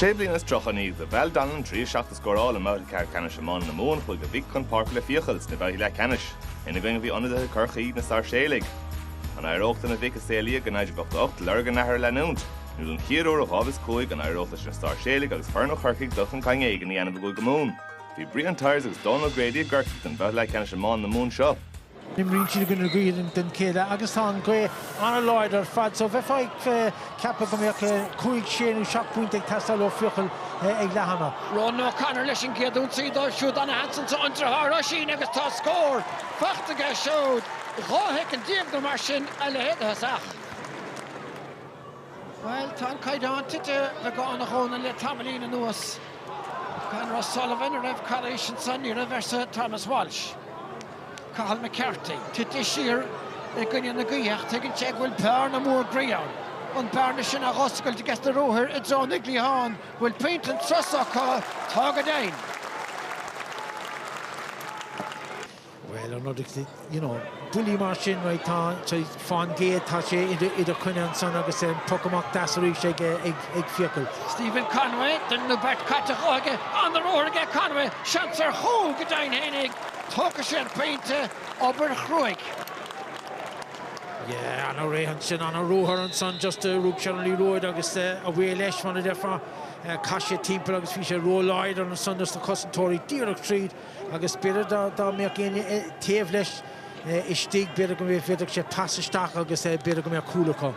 Sé bliana is tríocha i ndiaidh do Val Donnellan trí seacht a scóráil i mbabhta ceathrú ceannais iomána na Mumhan chuaigh a mhic chun páirce le Fiacail sna babhtaí leathcheannais. Ina gcoinne bhí ionadaithe Chorcaí, na Sairséalaigh. An éireodh do na mic a saolaíodh in 1988 lorg a n-athar a leanúint? Nó don chéad uair ó 2005 an éireodh leis na Sairséalaigh agus foireann ó Chorcaigh dul chun cinn éigin a dhéanamh i gCúige Mumhan? Bhí Brian Tyers agus Dónal O'Grady i gCorcaigh don bhabhta leathcheannais iomána na Mumhan seo. Imríonn siad i gcoinne na gaoithe don chéad leath agus tá an ghaoth an-láidir ar fad so bheifeá ag ceapadh go mbeadh cúig, sé nó seacht bpointe ag teastáil ó Fiacail ag leath ama. Ronan O'Connor leis an gcéad ionsaí dóibh siúd, an-sheans anso an driotháir, Oisín agus tá scór faighte aige siúd. Dhá shoicind déag nó mar sin a leithéid de thosach. Bhuel, tá an caighdeán tite beagán a Dhónaill le tamaillín anuas. Conor O'Sullivan, a raibh calaois ansan, ní raibh, arsa Thomas Walsh. Cathal McCarthy, tite siar i gcoinne na gaoithe ach tuigeann sé go bhfuil bearna mhór groí ann. An bearna sin á dh'oscailt aiges na ruathair i dtreo na gcliathán, bhfuil pointe an tsros acu. Tá go deimhin. Bhuel, an rud is, you know, buillí mar sin, right, tá, sea, fán gcéad tá sé i do choinne ansan agus an poc amach deas arís ag, ag Fiacail. Stephen Conway, duine nó beirt caite dhe aige, an-ruathar aige Conway, seans ar chúl go deimhin féin é, tógfaidh sé a phointe, obair chruaidh. Yeah, an-réidh ansin, an-ruathar ansan, just rug sé liathróid agus away leis mar a déarfá, chas sé timpeall agus bhí sé ró-láidir ansan do na cosantóirí díreach tríd. agus b'fhéidir dá mbeadh éinne taobh leis istigh b'fhéidir go bhféadfadh sé casadh isteach agus b'fhéidir go mbeadh cúl acu.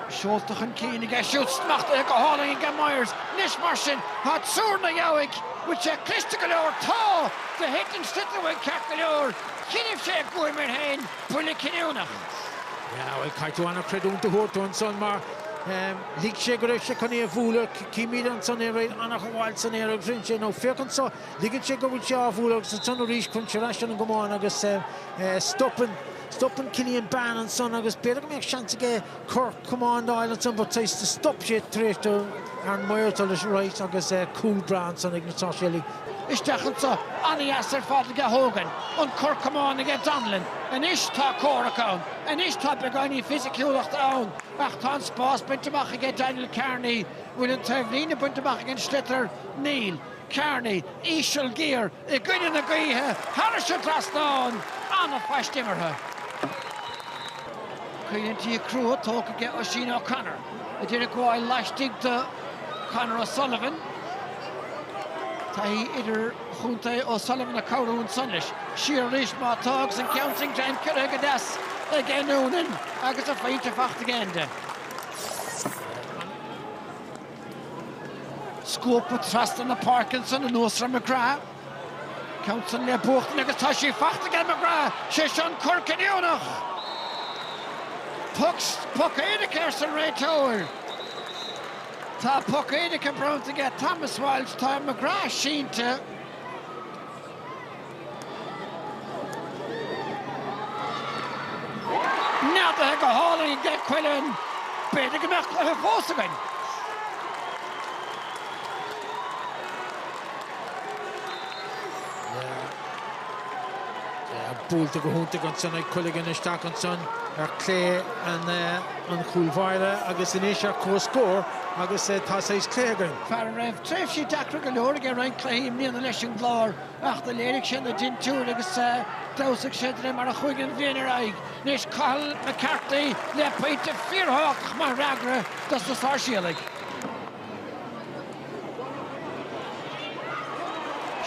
Seolta chun cinn aige siúd, smachtaithe go hálainn aige Myers. Anois mar sin, tá triúr ina dhiaidh, bhfuil sé cliste go leor? Tá! Do thit an sliotar uaidh ceart go leor. Choinnibh sé guaim air féin, buille cinniúnach. Bhuel, caithfidh tú an-chreidiúint a thabhairt dó ansan mar. Lig sé go raibh sé chun é a bhualadh. Címid ansan é right an-ghabháil san aer agus rinne sé nó, Féach anso! Ligeann sé go bhfuil sé á bhualadh agus ansan arís cuireann sé ar ais ar an gcamán agus stopann. Stopann Cillian Bane ansan agus b'fhéidir go mbeadh seans aige cor camán d'fháil ansan but stop sé tar éis do Aaron malartú leis right agus cúl breá ansan ag na Sáirséalaigh. Isteach anso, an-dheas ar fad aige Hogan, an cor camán aige Donnellan. Anois tá comhrac ann. Anois tá beagáinín fisiciúlachta ann ach tá an spás bainte amach aige Daniel Kearney bhfuil an taobhlíne bainte amach ag an sliotar? Níl. Kearney, íseal, géar, i gcoinne na gaoithe, thairis an dtrasnán! An-phaiste imeartha. Coimhlintí crua tógtha aige Oisín O'Connor, a d'iarraidh gabháil laistigh de Conor O'Sullivan. Taithí idir. Chontae O'Sullivan ag cabhrú ansan leis. Siar arís má tá agus an ceann sin greim ciorraithe go deas aige Noonan agus a phointe faighte aige Enda. Scuabtha trasna na páirce ansan anuas ar McGrath. Ceann san le buachtaint agus tá sí faighte aige McGrath, sé seo an cor cinniúnach! Poc éirice arsa an réiteoir. Tá poc éirice bronnta aige Thomas Walsh, tá McGrath sínte. Neadaithe go hálainn aige Quilligan, b'fhéidir go mbeadh cluiche fós againn. Buailte go hiontach ansan ag Quilligan isteach ansan ar clé an. an chúlbháire agus anois ar comhscór agus tá saghas cluiche againn. Fear a raibh tréimhsí deacra go leor aige roinnt cluichí i mbliana leis an gClár ach do léirigh sé na dintiúir agus d'fheabhsaigh sé de réir mar a chuaigh an bhliain ar aghaidh. Anois Cathal McCarthy le pointe fíorthábhachtach mar fhreagra dos na Sáirséalaigh.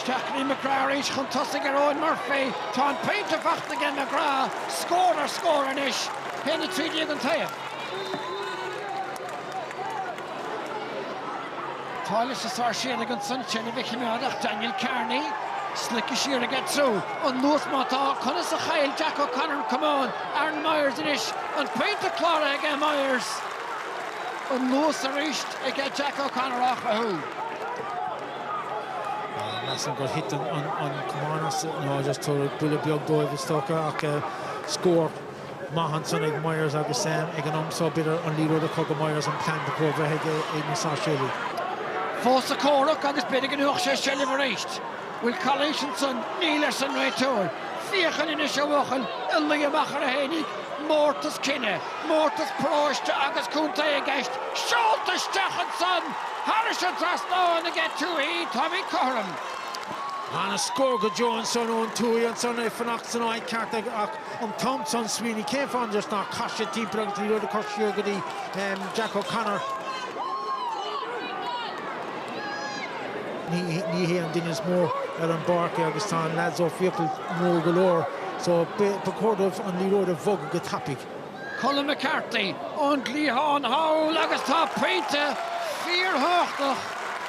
Isteach go dtí McGrath arís chun tosaigh ar Eoghan Murphy. Tá an pointe faighte aige McGrath scór ar scór anois, 1 13 an taobh. Tá leis na Sáirséalaigh ansan seilbh a chimeád ach, Daniel Kearney. Slice siar aige triú an luas má tá, conas a chaill Jack O'Connor an camán, Aaron Myers anois, an pointe cláraithe aige Myers. anuas arís ag Jack O'Connor á chruthú. Measaim gur thit an camán as nó just tabhair buille beag dóibh is dócha ach scór maith ansan ag Myers agus ag an am seo b'fhéidir an liathróid a chur go Myers an plean ba chóir bheith ag na Sáirséalaigh. Fós sa chomhrac agus b'fhéidir go ngnóthódh sé seilbh arís. bhfuil calaois ansan, níl arsa an réiteoir. Fiacail anois a bhuachaillí, luigh amach oraibh féinig, mórtas cine, mórtas paróiste agus contae i gceist, seolta isteach ansan! Thairis an dtrasnán aige Tuohy, táimid cothrom. Ana-scór go deo ansan ó Tuohy ansan, é fanacht san áit cheart ach an t-am san smaoinigh cén fáth just nár chas sé timpeall agus an liathróid a chur siar go dtí Jack O'Connor. Ní hé an duine is mó ar an bpáirc é agus tá na leaids ó Feakle mór go leor so ba chóir dóibh an liathróid a bhogadh go tapaidh. Colm McCarthy ón gcliathán thall agus tá pointe fíorthábhachtach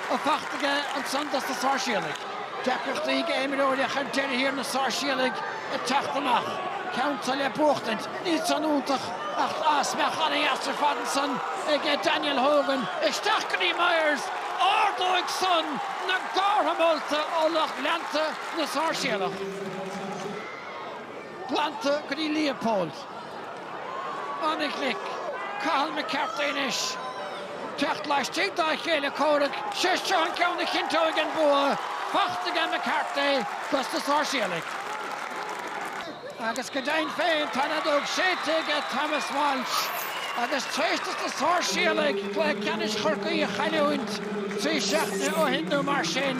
faighte aige ansan dos na Sáirséalaigh. Deacrachtaí ag imreoirí ach ar deireadh thiar na Sáirséalaigh ag teacht amach, ceann seo le buachtaint. Ní san iontach agus breith an-dheas ar fad ansan ag Daniel Hogan. Isteach go dtí Myers. Ardóidh san na gártha molta ó lucht leanta na Sáirséalach. Glanta go dtí Leopold. An-ghlic. Cathal McCarthy anois. Teacht laistigh dá chéile comhraic, sé seo an ceann a chinnteoidh an bua. Faighte aige McCarthy dos na Sáirséalaigh. Agus go deimhin féin, tá an fheadóg séidte aige Thomas Walsh agus tar éis do na Sáirséalaigh cluiche ceannais Chorcaí a chailliúint trí seachtaine ó shin nó mar sin,